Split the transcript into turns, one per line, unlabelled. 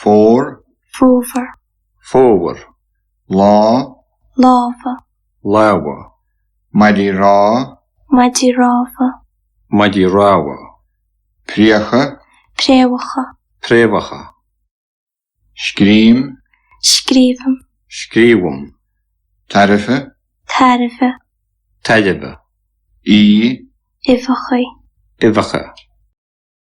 Fómhar. Fómhar. Fómhar.
Lá. Lámha.
Lámha. Maidí
Rá. Maidí Rámha.
Maidí Rámha. Préacha. Préamhacha.
Préamhacha. Scrím.
Scríobhaim. Scríobhaim. Tairbhe.
Tairbhe. Tairbhe. Í.
Uibheacha. Uibheacha.